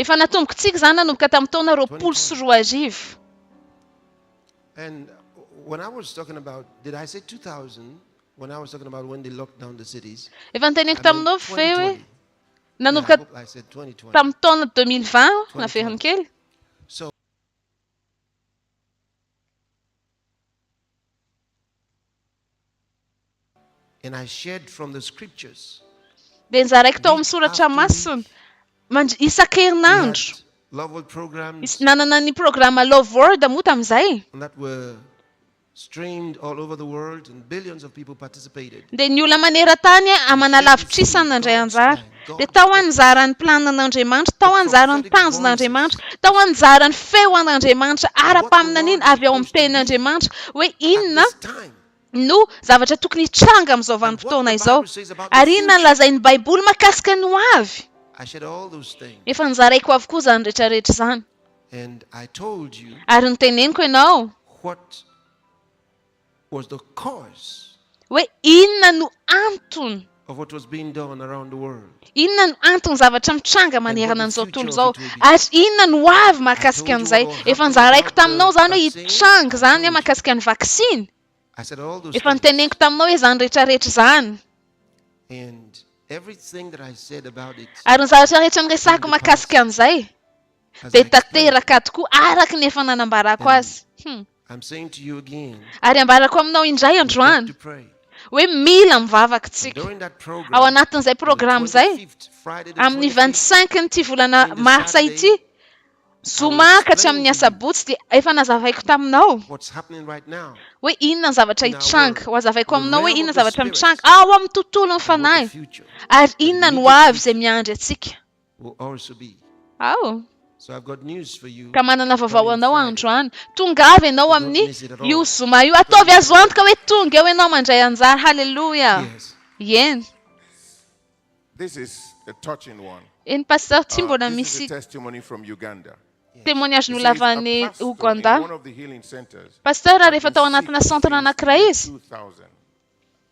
Efa natomboko tsiky izany nanomboka tamin'ny taona roapolo sy roa arivo. Efa noteneniko taminao ve hoe nanomboka tamin'ny taona deux mille vingt aho naveriny kely? dia nozaraiko tao amin'ny soratra masina mandr isan-kerinandro. Nisy nanana ny programa Love World moa tamin'izay, dia ny olona maneran-tany aman'alavitr'isa nandray anjara. Dia tao anjara ny planan'Andriamanitra, tao anjara ny tanjon'Andriamanitra, tao anjara ny feo an'Andriamanitra ara-paminaniana avy ao amin'ny Tenin'Andriamanitra hoe inona no zavatra tokony hitranga amin'izao vanim-potoana izao, ary inona no lazain'ny Baiboly mahakasika ny hoavy. Efa nozaraiko avokoa izany rehetrarehetra izany. Ary noteneniko ianao. was the cause. Hoe inona no antony. Of what was being done around the world. Inona no anton'ny zavatra mitranga manerana an'izao tontolo izao ary inona no ho avy mahakasika an'izay. Efa nozaraiko taminao izany hoe hitranga izany mahakasika ny vaksiny. Efa noteneniko taminao hoe izany rehetrarehetra izany. Ary ny zavatra rehetra niresahako mahakasika an'izay dia tanteraka tokoa araka ny efa nanambarako azy. Hum. Ary ambarako aminao indray androany hoe mila mivavaka isika. Ao anatin'izay programa izay, amin'ny vingt cinq n'ity volana martsa ity, zoma ka hatramin'ny asabotsy, dia efa nazavaiko taminao hoe inona ny zavatra hitranga. Hohazavaiko aminao hoe inona ny zavatra mitranga ao amin'ny tontolon'ny fanahy, ary inona ny hoavy izay miandry antsika. Ao? Ka manana vaovao ho anao androany. Tonga avy ianao amin'ny io zoma io. Ataovy azo antoka hoe tonga eo ianao mandray anjara. Haleloia! Eny. Eny, Pasteur, tsy mbola misy témoignage nolavana any Ouganda. Pasteur, rehefa tao anatina centre anankiray izy.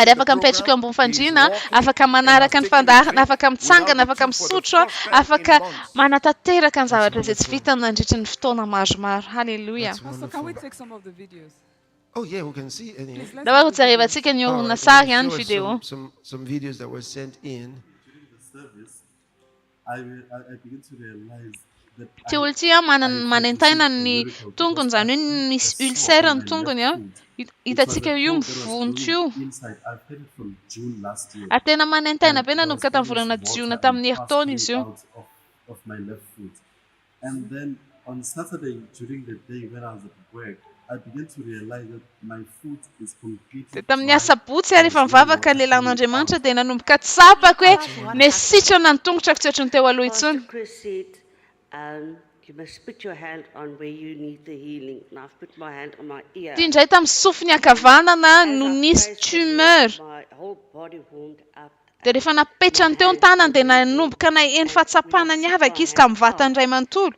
ary afaka mipetraka eo ambony fandriana, afaka manaraka ny fandaharana, afaka mitsangana, afaka misotro, afaka manatanteraka ny zavatra izay tsy vitany nandritra ny fotoana maromaro. Haleloia! Nahoa hojerevantsika ny horonantsary, ny video. Tsy olon tsy manentaina ny tongony izany hoe misy ulcère ny tongony an! Hitantsika io mivonto io. Ary tena manentaina be nanomboka tamin'ny volana jiona tamin'ny herintaona izy io. and then on Saturday during the day when I was at work I began to realize that my foot is completely Dia tamin'ny dry asabotsy ary efa mivavaka lehilahy an'Andriamanitra dia nanomboka tsapako hoe mety sitrana ny tongotrako tsy ohatry ny teo aloha intsony. Ity indray tamin'ny sofiny ankavanana no nisy tumeur. Dia rehefa napetrany teo ny tanany dia nanomboka naheno fahatsapana niavaka izy tamin'ny vatan'ny iray manontolo.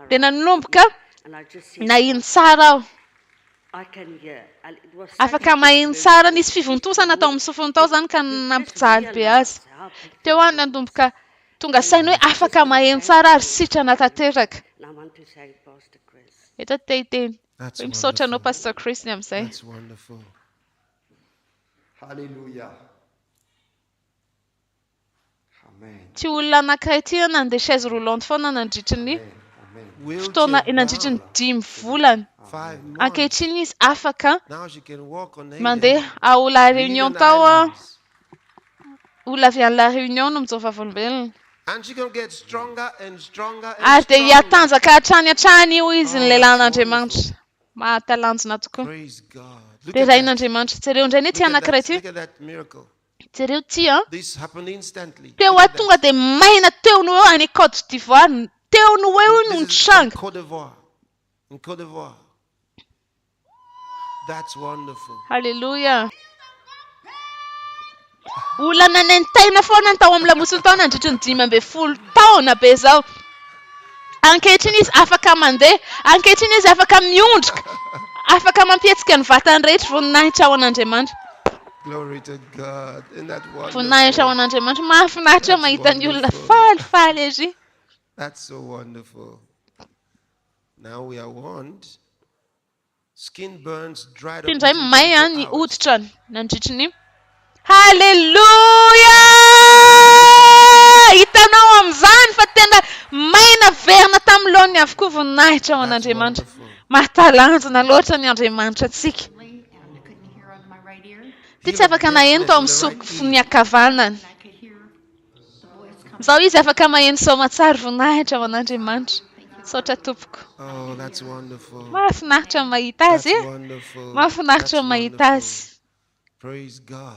Dia nanomboka naheno tsara aho. Afaka maheno tsara. Nisy fivontosana tao amin'ny sofiny tao izany ka nampijaly be azy. Teo aho nanomboka tonga saina hoe afaka maheno tsara ary sitrana tanteraka. Eto aho te hiteny hoe misaotra anao Pastor Chris ny amin'izay. Haleloia Amen. Tsy olona anankiray ity an, nandeha chaise roulante foana nandritry ny fotoana nandritry ny dimy volana. Ankehitriny izy afaka mandeha ao La Réunion tao aho. Olona avy any La Réunion no mijoro vavolombelona. Ary dia hihatanjaka hatrany hatrany io izy ny lelan'Andriamanitra. Mahatalanjona tokoa. Rerahin' Andriamanitra. Jereo indray anie ity anankiray ity. Jereo ity an. Teo aho tonga dia maina teo no ho eo any Côte d'Ivoire. Teo no ho eo io no nitranga. Haleloia. Olana nentaina foana ny tao amin'ny lamosin-taona nandritry ny dimy ambin'ny folo taona be izao. Ankehitriny izy afaka mandeha. Ankehitriny izy afaka miondrika. Afaka mampihetsika ny vatany rehetra. Voninahitra ho an'Andriamanitra. Voninahitra ho an'Andriamanitra. Mahafinaritra mahita ny olona faly, faly erỳ. Ity indray may ny hoditrany nandritry ny Haleloia! Hitanao amin'izany fa tena may naverina tamin'ny laoniny avokoa voninahitra ho an'Andriamanitra. Mahatalanjona loatra ny Andriamanitra antsika. Ity tsy afaka naheno tao amin'ny sofiko ny ankavanany. Zao izy afaka maheno soamatsary voninahitra ho an'Andriamanitra. Misaotra tompoko. Mahafinaritra ny mahita azy e! Mahafinaritra ny mahita azy.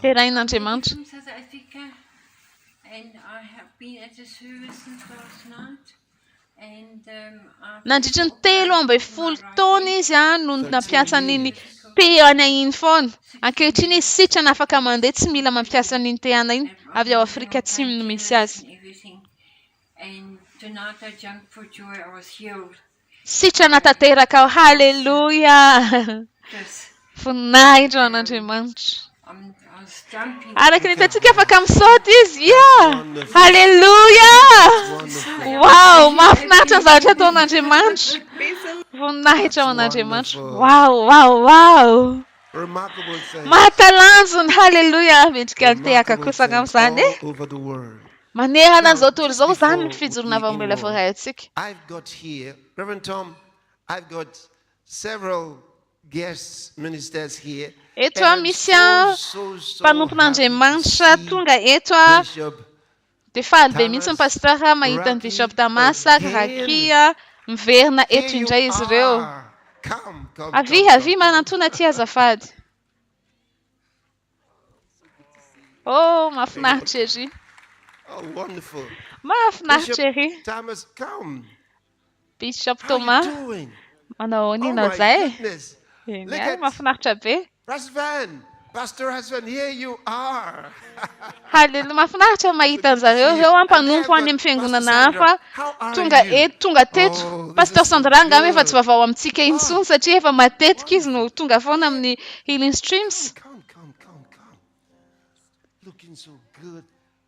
Derain'Andriamanitra. Nandritry ny telo ambin'ny folo taona izy no nampiasa an'iny Teana iny foana. Ankehitriny izy sitrana afaka mandeha tsy mila mampiasa an'iny Teana iny, avy ao Afrika Atsimo no misy azy. Sitrana tanteraka ao! Haleloia! Voninahitra ho an'Andriamanitra. Araka ny hitantsika afaka misaoty izy. Ia! Haleloia! Wow! Mahafinaritra ny zavatra ataon'Andriamanitra. Voninahitra ho an'Andriamanitra. Wow! Wow! Wow! Mahatalanjona, haleloia, mendrika ny tehaka kosa angamba izany e. Manerana an'izao tontolo izao izany ny fijoroana avy amin'ilay Voaray antsika. Eto misy mpanompon'Andriamanitra tonga eto dia faly be mihitsy ny Pasteur mahita an'i Bishop Tamas ary Rakia miverina eto indray izy ireo. Avia avia manantona aty azafady. Oh, mahafinaritra ery. Oh, wonderful. Mahafinaritra ery. Thomas Kaum. Bishop Thomas. Manao ahoana ianao izay? Eny, mahafinaritra be. Pastor Van, Pastor Van, here you are. Haleloia, mahafinaritra ny mahita anjareo ireo an, mpanompo any amin'ny fiangonana hafa tonga eto, tonga teto. Pasteur Sandra angamba efa tsy vaovao amintsika intsony satria efa matetika izy no tonga foana amin'ny Healing Streams.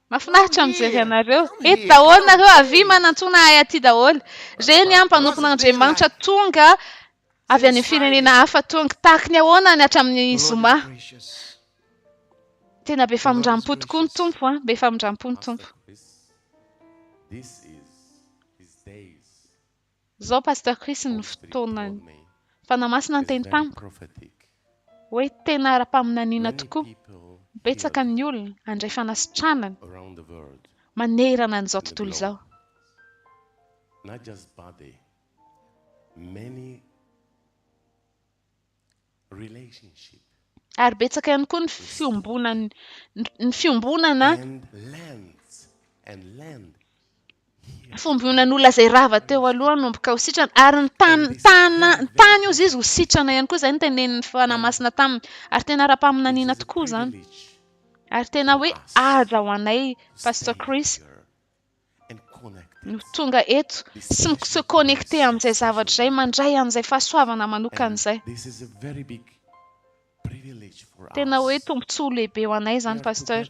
Mahafinaritra ny mijery anareo. Eto daholo nareo, avia manantsoana ahy aty daholo. Reny an, mpanompon'Andriamanitra tonga avy any amin'ny firenena hafa tonga. Tahaka ny ahoana ny hatramin'ny zoma. Tena be famindrampo tokoa ny Tompo an! Be famindrampo ny Tompo. Zao Pasteur Chris ny fotoanany. Fanahy Masina niteny tamiko hoe tena ara-paminaniana tokoa, betsaka ny olona handray fanasitranana manerana an'izao tontolo izao. relationship. Ary betsaka ihany koa ny fiombonan'ny ny fiombonana fombionan'olona izay rava teo aloha nomboka ho sitrana ary ny tany tana ny tany ozy izy ho sitrana ihany koa izay ny tenenin'ny fana masina taminy ary tena ara-paminaniana tokoa izany ary tena hoe aja ho anay pastor Chris no tonga eto sy mi-se connecter amin'izay zavatra izay, mandray an'izay fahasoavana manokana izay. Tena hoe tombontsoa lehibe ho anay izany Pasteur.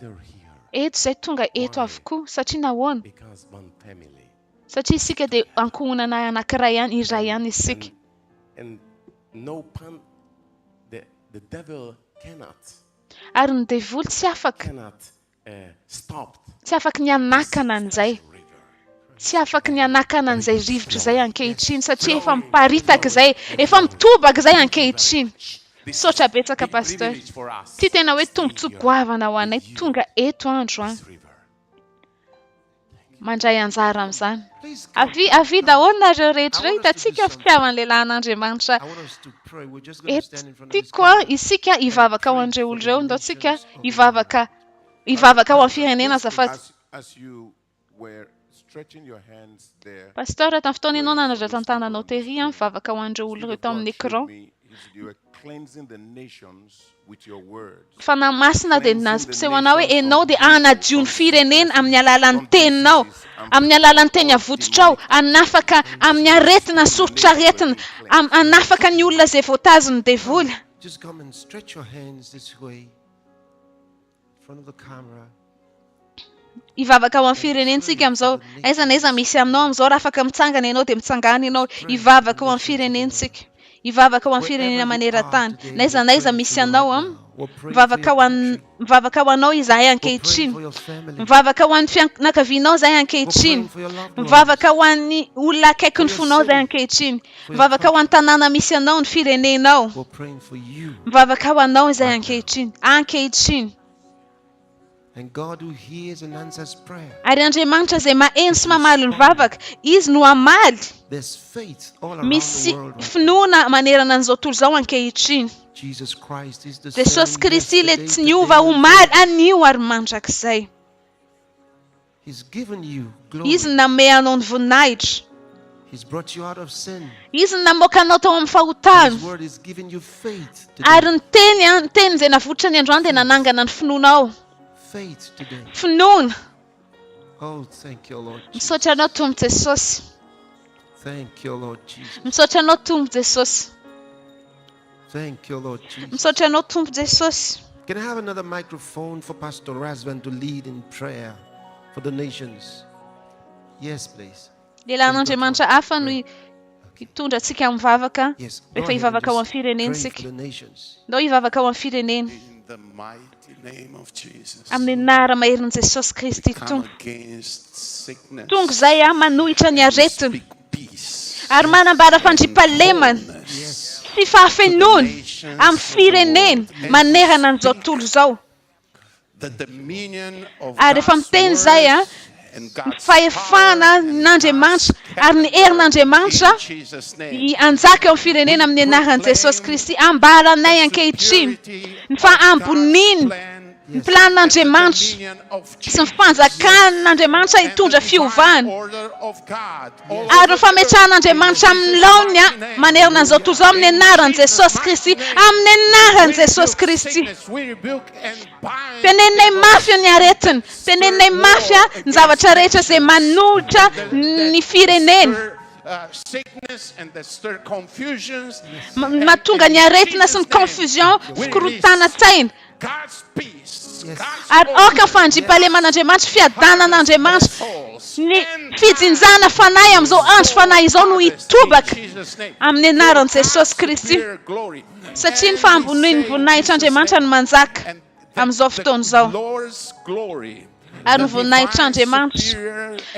Eto izay tonga eto avokoa. Satria nahoana? Satria isika dia ankohonana anankiray ihany, iray ihany isika. Ary ny devoly tsy afaka Tsy afaky ny hanakana an'izay. Tsy afaky ny hanakana an'izay rivotra izay ankehitriny satria efa miparitaka izay, efa mitobaka izay ankehitriny. Misaotra betsaka Pasteur. Ity tena hoe tombotsoa goavana ho anay tonga eto androany. mandray anjara amin'izany. Avia, avia daholo nareo rehetra ireo, hitantsika ny fitiavan'ny lehilahy an'Andriamanitra eto. Tiako isika hivavaka ho an'ireo olona ireo, ndao tsika hivavaka, hivavaka ho an'ny firenena azafady. Pasteur, tamin'ny fotoana ianao nanadratran-tananao tery aho, mivavaka ho an'ireo olona ireo tao amin'ny écran. Fanahy Masina dia nampiseho anao hoe enao dia hanadio ny firenena amin'ny alalan'ny teninao, amin'ny alalan'ny teny avototrao, hanafaka amin'ny aretina, soritr'aretina, am, hanafaka ny olona izay voatazin'ny devoly. Hivavaka ho an'ny firenentsika amin'izao. Aiza na aiza misy anao amin'izao, raha afaka mitsangana ianao, dia mitsangàna ianao. Hivavaka ho an'ny firenentsika. Hivavaka ho an'ny firenena maneran-tany. Na aiza na aiza misy anao an. Mivavaka ho an, mivavaka ho anao izahay ankehitriny. Mivavaka ho an'ny fianakavianao izahay ankehitriny. Mivavaka ho an'ny olona akaikin'ny fonao izahay ankehitriny. Mivavaka ho an'ny tanàna misy anao, ny firenenao. Mivavaka ho anao izahay ankehitriny, ankehitriny. Ary Andriamanitra izay maheno sy mamaly ny vavaka, Izy no hamaly. Misy finoana manerana an'izao tontolo izao ankehitriny. Jesosy Kristy ilay tsy niova omaly, anio ary mandrakizay. Izy no nanome anao ny voninahitra. Izy no namoaka anao tao amin'ny fahotana. Ary ny teny, ny teny izay navoitra ny androany dia nanangana ny finoanao. Finoana. Misaotra Anao Tompo Jesosy. Misaotra Anao Tompo Jesosy. Misaotra anao Tompo Jesosy. Can I have another microphone for Pastor Razvan to lead in prayer for the nations? Yes, please. Lehilahin'Andriamanitra hafa no hitondra antsika amin'ny vavaka rehefa hivavaka ho amin'ny firenentsika. Ndao hivavaka ho amin'ny firenena. Amin'ny anara maherin'i Jesosy Kristy Tompo. Tonga izay aho manohitra ny aretina. Ary manambara fandriampahalemana sy fahafenoana amin'ny firenena manerana an'izao tontolo izao. Ary efa miteny izay aho ny fahefana an'Andriamanitra ary ny herin'Andriamanitra hanjaka eo amin'ny firenena amin'ny anaran'i Jesosy Kristy. Ambaranay ankehitriny ny fahamboniany ny planin'Andriamanitra sy ny fanjakan'Andriamanitra hitondra fiovana. Ary ny fametrahan'Andriamanitra amin'ny laoniny manerana an'izao tontolo izao amin'ny anaran'i Jesosy Kristy, amin'ny anaran'i Jesosy Kristy. Teneninay mafy ny aretiny, teneninay mafy ny zavatra rehetra izay manolotra ny firenena, mahatonga ny aretina sy ny confusion, fikorontanan-tsaina. Ary aoka fandriampahaleman'Andriamanitra, fiadanan'Andriamanitra, ny fijinjana fanahy amin'izao andro fanahy izao no hitobaka amin'ny anaran'i Jesosy Kristy, satria ny fahambonian'ny voninahitr'Andriamanitra no manjaka amin'izao fotoana izao. ary ny voninahitr'Andriamanitra.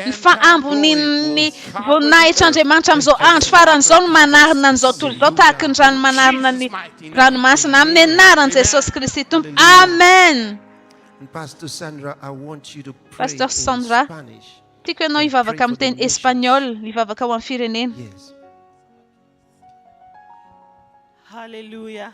Ny fahambonian'ny voninahitr'Andriamanitra amin'izao andro farany izao no manarina an'izao tontolo izao tahaka ny rano manarina ny ranomasina, amin'ny anaran'i Jesosy Kristy Tompo, amen! Pastor Sandra, I want you to pray in Spanish. Tiako ianao hivavaka amin'ny teny Espaniola, hivavaka ho an'ny firenena. Yes. Hallelujah.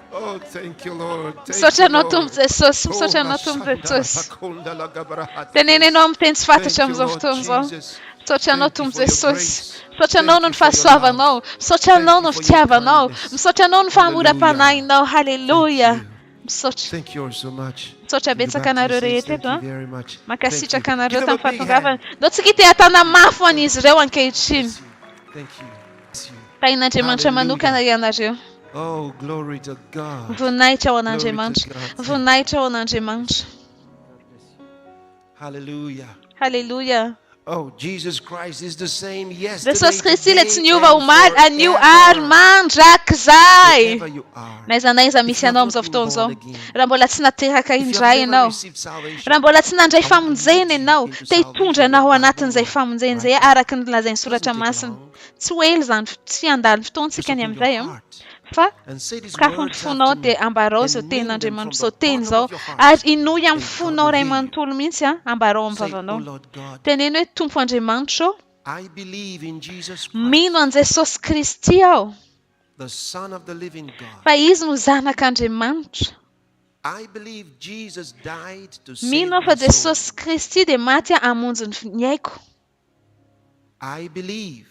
Misaotra Anao Tompo Jesosy, misaotra Anao Tompo Jesosy. Teneneno amin'ny teny tsy fantatro amin'izao fotoana izao. Misaotra Anao Tompo Jesosy. Misaotra Anao noho ny fahasoavanao. Misaotra Anao noho ny fitiavanao. Misaotra Anao noho ny fahamoram-panahinao. Haleloia. Misaotra. Misaotra betsaka anareo rehetra eto an. Mankasitraka anareo tamin'ny fahatongavana. Ndao tsika hitehantana mafy ho an'izy ireo ankehitriny. Tahin'Andriamanitra manokana ianareo. Voninahitra ho an'Andriamanitra. Voninahitra ho an'Andriamanitra. Haleloia. Jesosy Kristy ilay tsy niova omaly, anio ary mandrakizay. Na iza na iza misy anao amin'izao fotoana izao, raha mbola tsy nateraka indray ianao, raha mbola tsy nandray famonjena ianao, te hitondra anao ho anatin'izay famonjena izay araka ny lazain'ny soratra masina. Tsy ho ela izany, tsy handalo ny fotoantsika ny amin'izay an, fa sokafy ny fonao dia ambarao izao tenin'Andriamanitra, izao teny izao, ary henoy amin'ny fonao iray manontolo mihitsy an, ambarao amin'ny vavanao. Teneno hoe, Tompo Andriamanitra ô, mino an'i Jesosy Kristy aho, fa Izy no Zanak'Andriamanitra. Mino aho fa Jesosy Kristy dia maty hamonjy ny aiko. I believe.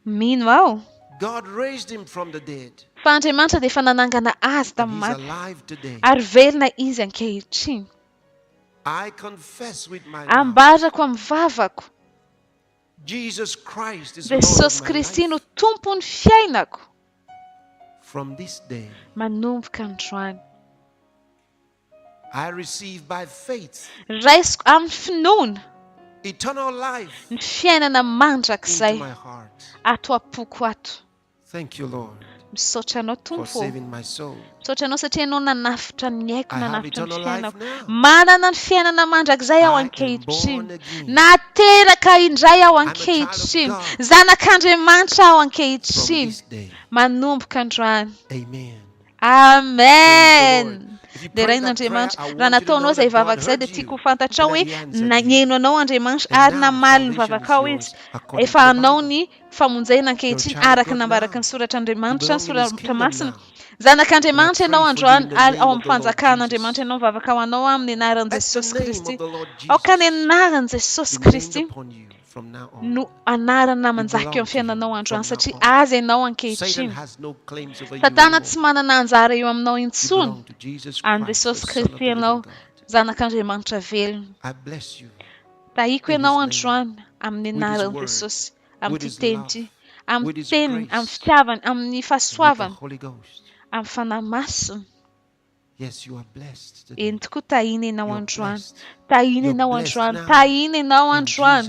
Mino aho. God raised him from the dead. Fa Andriamanitra dia efa nanangana azy tamin'ny maty. And he's alive today. Ary velona izy ankehitriny. I confess with my mouth. Ambarako amin'ny vavako. Jesus Christ is Lord of my life. Jesosy Kristy no Tompon'ny fiainako. From this day. Manomboka androany. I receive by faith. Raisiko amin'ny finoana. Eternal life. Ny fiainana mandrakizay. Into my heart. Ato am-poko ato. Thank you Lord. Misaotra Anao Tompo ô. For saving my soul. Misaotra Anao satria Ianao nanavotra ny aiko, nanavotra ny fiainako. Manana ny fiainana mandrakizay aho ankehitriny. Nateraka indray aho ankehitriny. Zanak'Andriamanitra aho ankehitriny, manomboka androany. Amen. Amen! Deraina Andriamanitra. Raha nataonao izay vavaka izay dia tiako ho fantatrao hoe nagneno anao Andriamanitra ary namaly ny vavakao izy. Efa anao ny famonjena ankehitriny araka ny nambaraky ny soratr'Andriamanitra, ny soratra masina. Zanak'Andriamanitra ianao androany ary ao amin'ny fanjakan'Andriamanitra ianao, vavaka ho anao amin'ny anaran'i Jesosy Kristy. Aoka ny anaran'i Jesosy Kristy no anarana manjaka eo amin'ny fiainanao androany, satria azy ianao ankehitriny. Satana tsy manana anjara eo aminao intsony. An'i Jesosy Kristy ianao, zanak'Andriamanitra velona. Tahiako ianao androany amin'ny anaran'i Jesosy, amin'ity teny ity, amin'ny teniny, amin'ny fitiavany, amin'ny fahasoavany, amin'ny Fanahy Masiny. Yes you are blessed today. Eny tokoa tahiana ianao androany. Tahiana ianao androany. Tahiana ianao androany.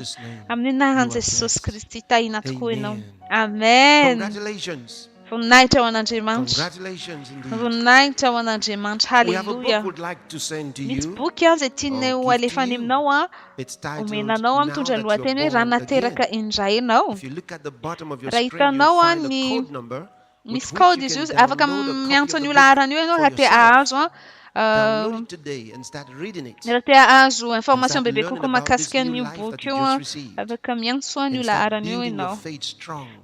Amin'ny anaran'i Jesosy Kristy tahiana tokoa ianao. Amen. Voninahitra ho an'Andriamanitra. Voninahitra ho an'Andriamanitra. Haleloia. Misy boky an izay tianay ho alefany aminao an. Omena anao an mitondra ny lohateny hoe raha nateraka indray ianao. Raha hitanao an ny Misy kaody izy io, afaka miantso an'io laharana io ianao raha te hahazo raha te hahazo information bebe kokoa mahakasika an'io boky io, afaka miantso an'io laharana io ianao.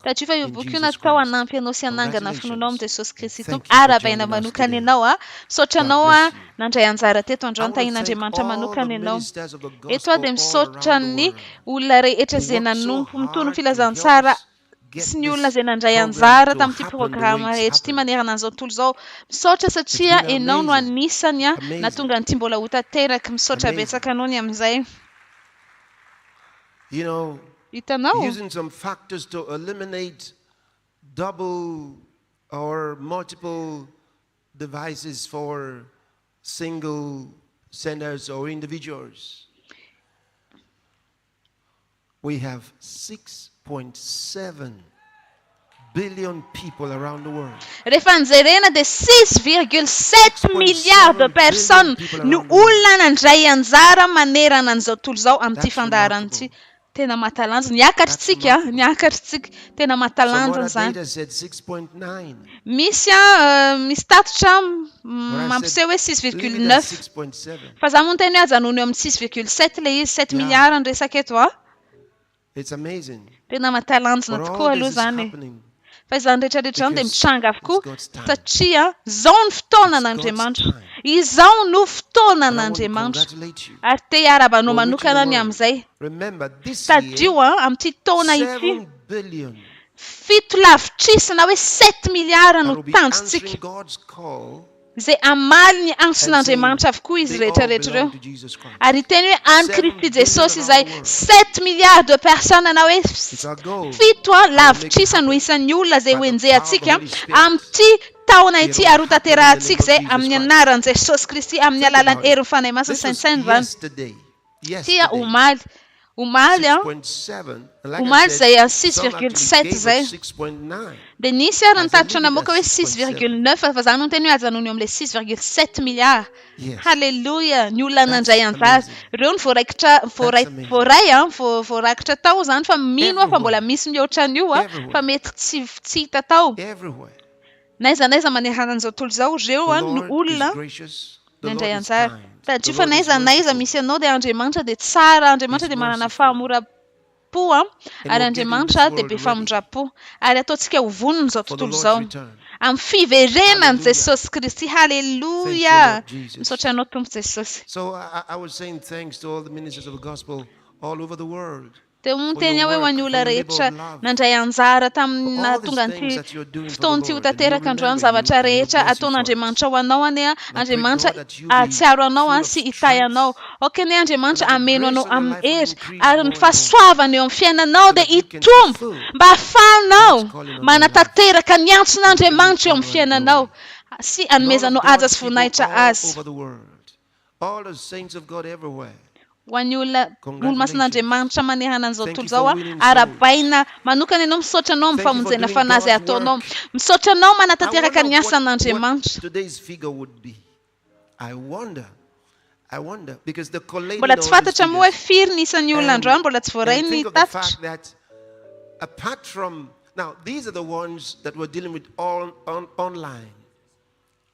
Tadidio fa io boky io natao hanampy anao sy hanangana ny finoanao amin'i Jesosy Kristy Tompo. Arahabaina manokana ianao. Misaotra anao nandray anjara teto androany. Tahian'Andriamanitra manokana ianao. Eto aho dia misaotra ny olona rehetra izay nanompo, mitory ny filazantsara sy ny olona izay nandray anjara tamin'ity programa rehetra ity manerana an'izao tontolo izao. Misaotra satria enao no anisany nahatonga an'ity mbola ho tanteraka. Misaotra betsaka anao ny amin'izay. Hitanao? We have six point seven billion people around the world. Rehefa jerena dia six virgule sept milliards de personnes no olona nandray anjara manerana an'izao tontolo izao amin'ity fandaharana ity. Tena mahatalanjona. Niakatr'tsika, niakatr'tsika. Tena mahatalanjona izany. Misy an, misy tatitra mampiseho hoe six virgule neuf. Fa za moa niteny hoe ajanony eo amin'ny six virgule sept ilay izy, sept milliards ny resaka eto an. Tena mahatalanjona tokoa aloha izany e. Fa izany rehetrarehetra izany dia mitranga avokoa satria izao no fotoanan'Andriamanitra. Izao no fotoanan'Andriamanitra. Ary te hiarahaba anao manokana aho ny amin'izay. Tadidio an, amin'ity taona ity, Fito lavitrisa na hoe sept milliards no tanjontsika. Izay hamaly ny antson'Andriamanitra avokoa izy rehetrarehetra ireo. Ary hiteny hoe an'i Kristy Jesosy izay sept milliards de personnes na hoe fito lavitrisa no isan'ny olona izay hoenjehantsika amin'ity taona ity ary hotanterahantsika izay amin'ny anaran'i Jesosy Kristy, amin'ny alalan'ny herin'ny Fanahy Masina, saintsaino izany. Tia omaly. Omaly an. Omaly izay an six virgule sept izay. Dia nisy ary nitatitra namoaka hoe six virgule neuf fa za no niteny hoe ajanony eo amin'ilay six virgule sept milliards. Haleloia. Ny olona nandray anjara. Ireo no voaraikitra voaray voaray an, voa voarakitra tao izany fa mino aho fa mbola misy mihoatra an'io an, fa mety tsy tsy hita tao. N'aiza n'aiza manerana an'izao tontolo izao, ireo no olona nandray anjara. Tadidio fa n'aiza n'aiza misy anao dia Andriamanitra dia tsara, Andriamanitra dia manana fahamoram-po, ary Andriamanitra dia be famindram-po. Ary ataontsika ho vonin'izao tontolo izao amin'ny fiverenan'i Jesosy Kristy. Haleloia! Misaotra Anao Tompo Jesosy. Dia ho teny aho ho an'ny olona rehetra nandray anjara tamin'ny nahatonga an'ity fotoana ity ho tanteraka androany, zavatra rehetra ataon'Andriamanitra ho anao anie Andriamanitra hahatsiaro anao sy hitahy anao. Aoka anie Andriamanitra hameno anao amin'ny hery ary ny fahasoavany eo amin'ny fiainanao dia hitombo mba hahafahanao manatanteraka ny antson'Andriamanitra eo amin'ny fiainanao sy hanomezanao haja sy voninahitra Azy. All the saints of God everywhere. Ho an'ny olona olomasin'Andriamanitra manehana an'izao tontolo izao aho, arahabaina manokana ianao, misaotra anao amin'ny famonjena fanahy izay ataonao. Misaotra anao manatanteraka ny asan'Andriamanitra. Mbola tsy fantatra moa hoe firy ny isan'ny olona androany mbola tsy voaray ny tatitra.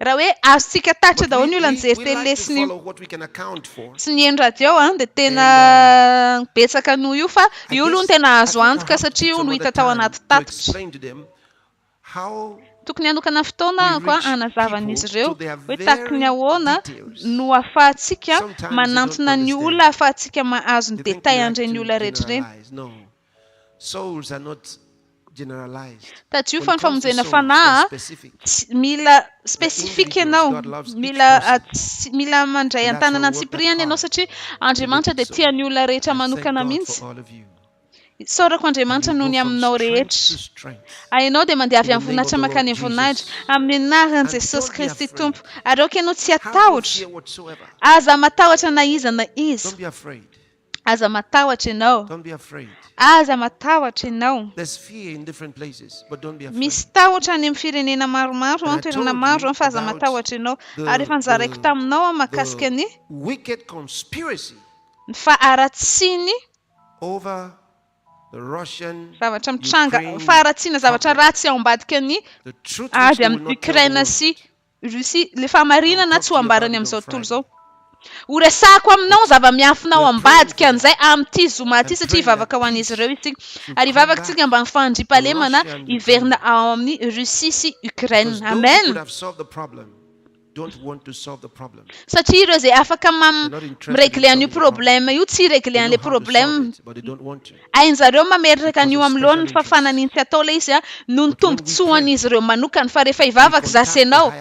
Raha hoe azontsika tatitra daholo ny olona nijery télé sy ny sy ny nihaino radio an, dia tena betsaka noho io fa io aloha no tena azo antoka satria io no hita tao anaty tatitra. Tokony hanokana fotoana aho koa hanazava an'izy ireo hoe tahaka ny ahoana no ahafahantsika manantona ny olona ahafahantsika mahazo ny détails an'ireny olona rehetra ireny. Souls are not generalized. Tajio fa ny famonjena fanahy tsy mila spesifika ianao, mila mila mandray an-tanana an-tsipiriany ianao satria Andriamanitra dia tia ny olona rehetra manokana mihitsy. Isaorako Andriamanitra noho ny aminao rehetra. Ianao dia mandeha avy amin'ny voninahitra mankany amin'ny voninahitra, amin'ny anaran'i Jesosy Kristy Tompo, ary aoka ianao tsy hatahotra. Aza matahotra na iza na iza. Aza matahotra ianao. Aza matahotra ianao. Misy tahotra any amin'ny firenena maromaro an, toerana maro an, fa aza matahotra ianao. Ary efa nozaraiko taminao an, mahakasika ny faharatsiany zavatra mitranga, faharatsiana zavatra ratsy ao ambadiky ny ady amin'i Ukraine sy Russie, ilay fahamarinana tsy ho ambarany amin'izao tontolo izao. Horesahako aminao ny zava-miafina ao ambadika an'izay amin'ity zoma ity satria hivavaka ho an'izy ireo isika. Ary hivavaka isika mba ny fandriampahalemana hiverina ao amin'i Russie sy Ukraine. Amen! Satria ireo izay afaka mi-regler an'io problème io tsy hi-regler an'ilay problème. Hain'zareo mametraka an'io am lohan'ny fafana an'iny tsy atao le izy noho ny tombotsoan'izy ireo manokana fa rehefa hivavaka za sy enao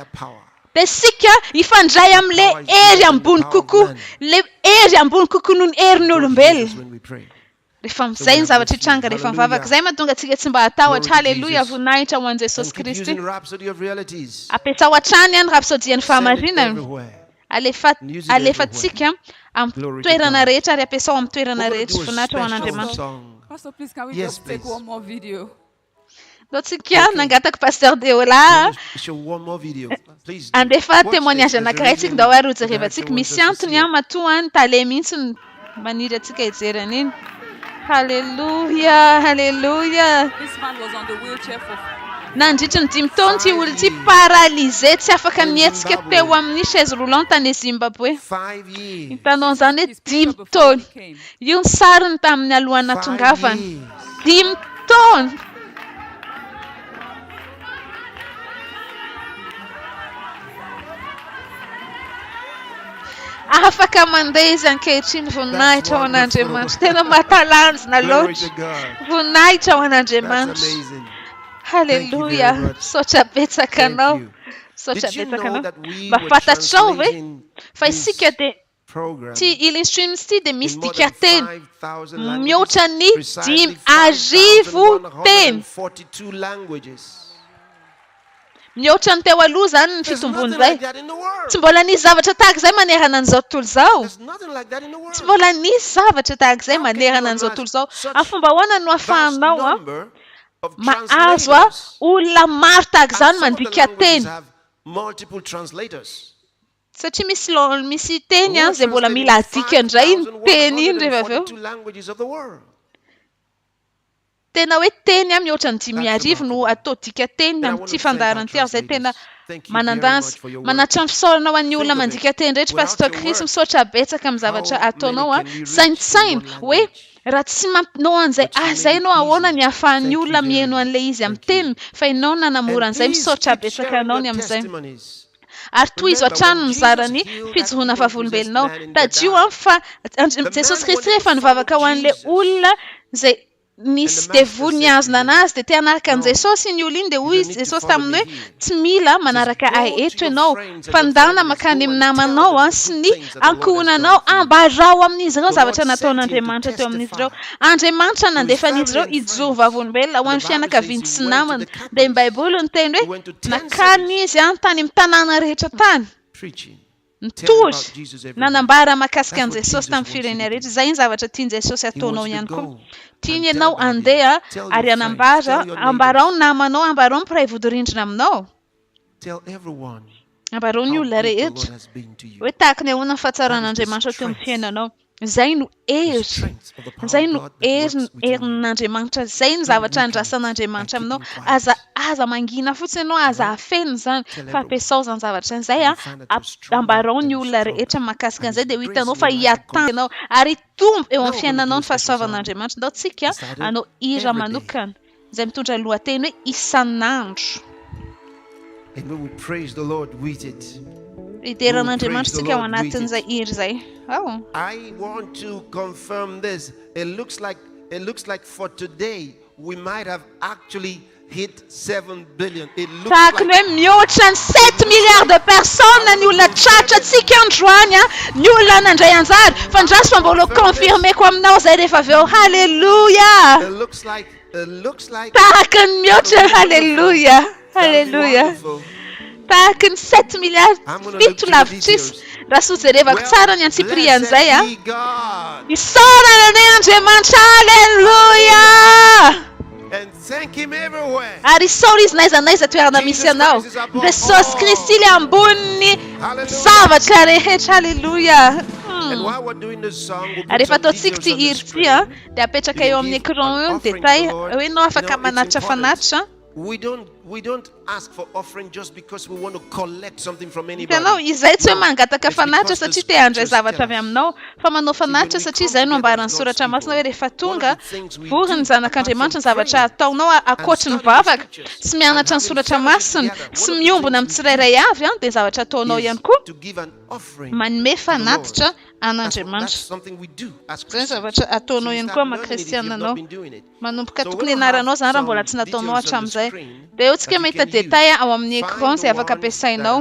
de sika hifandray am le hery ambony kokoa le hery ambony kokoa noho ny herin'ny olombelona rehefa zay ny zavatra hitranga rehefa mivavaka zay mahatonga antsika tsy mba hatahotra haleloia voninahitra ho an'i Jesosy Kristy ampiasao hatrany an rapsodian'ny fahamarinana. Alefa, alefantsika amin'ny toerana rehetra ary ampiasao amin'ny toerana rehetra. Voninahitra ho an'Andriamanitra. Pastor, please can we yes, just take one more video? Naotsika okay. nangataka Pasteur Deola. Andefa témoignage anankiray tsika ndao ary hojerevantsika. Misy antony matoa ny tale mihitsy Maniry antsika hijery an'iny. Haleloia, haleloia. Nandritry ny dimy taona ity olona ity paralysé tsy afaka nihetsika teo amin'ny chaise roulante any Zimbabwe. Hitanao an'izany hoe dimy taona. Io ny sariny tamin'ny alohan'ny nahatongavany. Dimy taona! Afaka mandeha izy ankehitriny voninahitra ho an'Andriamanitra. Tena mahatalanjona loatra. Voninahitra ho an'Andriamanitra. Haleloia. Saotra betsaka anao. Saotra betsaka anao. Mba fantatrao ve fa isika dia Ity Healing Streams ity dia misy dikanteny mihoatra ny dimy arivo teny. Mihoatra ny teo aloha izany ny fitombon'izay. Tsy mbola nisy zavatra tahaka izay manerana an'izao tontolo izao. Tsy mbola nisy zavatra tahaka izay manerana an'izao tontolo izao. Amin'ny fomba ahoana no ahafahanao mahazo olona maro tahaka izany mandika teny? Satria misy laoniny, misy teny any izay mbola mila adika indray iny teny iny rehefa avy eo. Tena hoe teny an, mihoatra ny dimy arivo no atao dika teny amin'ity fandaharana ity ary izay tena manan-danja. Manatitra ny fisaorana ho an'ny olona mandika teny rehetra Pasteur Chris, misaotra betsaka amin'ny zavatra ataonao an. Saintsaino hoe raha tsy manao an'izay asa izay ianao ahoana ny ahafahan'ny olona miheno an'ilay izy amin'ny teniny fa ianao no nanamora an'izay, misaotra betsaka anao ny amin'izay. ary tohizo hatrany ny mizara ny fijoroana vavolombelonao. Tadidio an fa Jesosy Kristy rehefa nivavaka ho an'ilay olona izay nisy devoly nihazona anazy dia te hanaraka an'i Jesosy iny olona iny dia hoy izy Jesosy taminy hoe tsy mila manaraka ahy eto ianao fa ndana makany amin'ny namanao an sy ny ankohonanao ambarao amin'izy ireo zavatra nataon'Andriamanitra teo amin'izy ireo Andriamanitra nandefa an'izy ireo hijoro vavolombelona ho an'ny fianakaviany sy namany Dia ny Baiboly niteny hoe, Nankany izy tany amin'ny tanàna rehetra tany, nitory, nanambara mahakasika an'i Jesosy tamin'ny firenena rehetra. Izay ny zavatra tian'i Jesosy hataonao ihany koa. Tiany ianao handeha ary hanambara, ambarao ny namanao, ambarao ny mpiray vodirindrina aminao. Ambarao ny olona rehetra hoe tahaka ny ahoana ny fahatsaran'Andriamanitra teo amin'ny fiainanao. Izay no hery. Izay no hery, herin'Andriamanitra. Izay ny zavatra andrasan'Andriamanitra aminao. Aza, aza mangina fotsiny ianao, aza afeno izany, fa ampiasao izany zavatra izay. Ambarao ny olona rehetra mahakasika an'izay, dia ho hitanao fa hiatamby ianao. Ary hitombo eo amin'ny fiainanao ny fahasoavan'Andriamanitra. Ndao tsika hanao hira manokana. izay mitondra ny lohateny hoe Isan'andro. And when we praise the Lord with it, Hidera an'Andriamanitra isika ao anatin'izay hira izay. Ao. I want to confirm this. It looks like it looks like for today we might have actually hit 7 Tahaka ny hoe mihoatra ny sept milliards de personnes ny olona tratrantsika androany an! Ny olona nandray anjara! Fandraso fa mbola ho confirmer-ko aminao izay rehefa avy eo! Haleloia! Tahaka ny mihoatra ny Haleloia! Haleloia! Tahaka ny sept milliards, fito lavitrisa, raha soa jerevako tsara ny antsipirihan'izay an! Isaorana anay Andriamanitra! Haleloia! Ary isaory Izy n'aiza n'aiza toerana misy anao. Jesosy Kristy le ambonin'ny zavatra rehetra. Aleloia. Ary rehefa ataontsika ity hira ity an, dia apetraka eo amin'ny écran eo ny détail, hoe ianao afaka manatitra fanatitra. Hitanao, izay tsy hoe mangataka fanatitra satria te handray zavatra avy aminao, fa manao fanatitra satria izay no ambaran'ny Soratra Masina hoe rehefa tonga, vory ny Zanak'Andriamanitra, ny zavatra ataonao ankoatry ny vavaka, sy mianatra ny Soratra Masina, sy miombona amin'ny tsirairay avy, dia ny zavatra ataonao ihany koa, manome fanatitra an'Andriamanitra. Izay ny zavatra ataonao ihany koa maha kristiana anao. Manomboka tokony hianaranao izany raha mbola tsy nataonao hatramin'izay. Dia eo tsika mahita détail ao amin'ny écran izay afaka ampiasainao.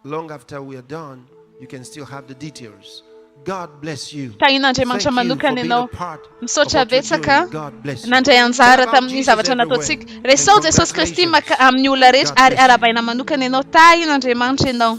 Long after we are done you can still have the details God bless you. Tahin'Andriamanitra manokana ianao. Misaotra betsaka nandray anjara tamin'ny zavatra nataontsika. Resao Jesosy Kristy maka amin'ny olona rehetra ary arabaina manokana ianao. Tahin'Andriamanitra ianao.